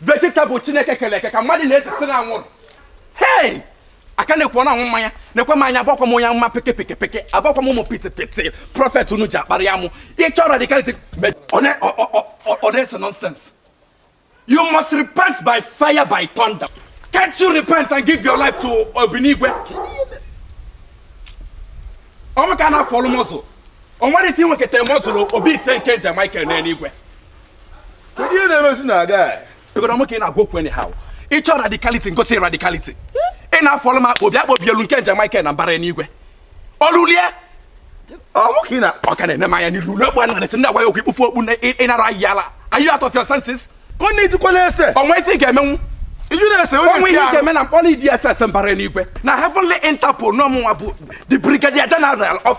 vegetable chineke kere eke ka mmadụ na-esesi na anwụrụ hei aka na-ekwu ọ na-anwụ mmanya na-ekwe m anya agbakwa m onye amụma peke peke peke agbakwa m ụmụ piti piti prophet unu ji akparị ya mụ ịchọ radicality me- ọ na- ọ- ọ- ọ- ọ- ọ na-ese nonsense you must repent by fire by thunder can't you repent and give your life to obinigwe ọ mụ ka ị na-follow muscle o nwere ike inweketa muscle obi ite nke angel michael n'eluigwe kedu ihe na-emezi na aga ebere ọ mụ ka ị na-agwa okwu anyhow ị chọọ radicality m gosi radicality ị na-follow m akpa obi akpa obi elu nke angel Michael na mbara enigwe ọlụlie ọ mụ ka ị na ọ ka na-ene m anya n'ilu n'ogbe a na-esi ndị agwa ya okwu ikpufu okpu na ịnara ahịa ala are you out of your senses onye ijikwala ese o nwe ife ị ga-emenwu iju na-ese onye o nwe ihe ị ga-eme na m kpọrọ DSS mbara enigwe na heavenly interpol na ọ mụnwa bụ the brigadier general of